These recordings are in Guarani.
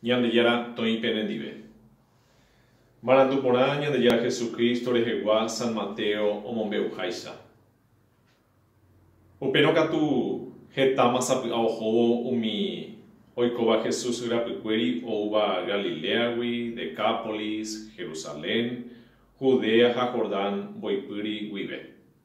Ñandejára toĩ pene ndive. Marandu porã Ñandejára Jesucristo rehegua San Mateo omombe'uháicha. Upérõ katu hetáma sapy'a ohóvo umi oikóva Jesús yrapykuéri oúva Galiléagui, Decápolis, Jerusalén, Judea ha Jordán mboypýri guive.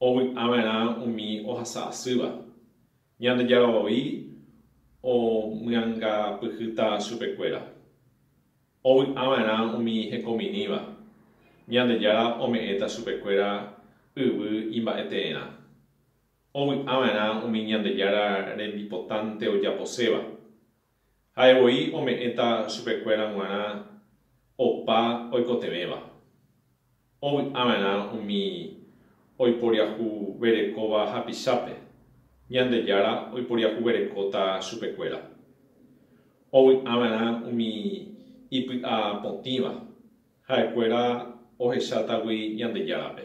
ovy'ava'erã umi ohasa asýva, Ñandejára voi omyangapyhýta chupekuéra, ovy'ava'erã umi hekomirĩva, Ñandejára ome'ẽta chupekuéra yvy imba'eteerã, ovy'ava'erã umi Ñandejára rembipotánte ojaposéva, Ha'e voi ome'ẽta chupekuéra g̃uarã opa oikotevẽva, ovy'ava'erã umi oiporiahuverekóva hapichápe, Ñandejára oiporiahuverekóta chupekuéra. Ovy'ava'erã umi ipy'a potĩva, ha'ekuéra ohecháta gui Ñandejárape.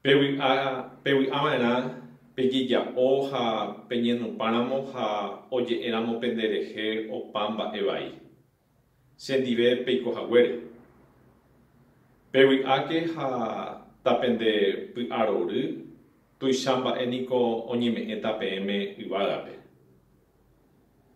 Pevy'a, pevy'a va'erã pejeja'o ha peñenupãramo ha oje'éramo pende rehe opa mba'e vai, che ndive peiko haguére. Pevy'áke ha ta pende py'arory, tuicha mba'e niko oñeme'ẽta peẽme yvágape.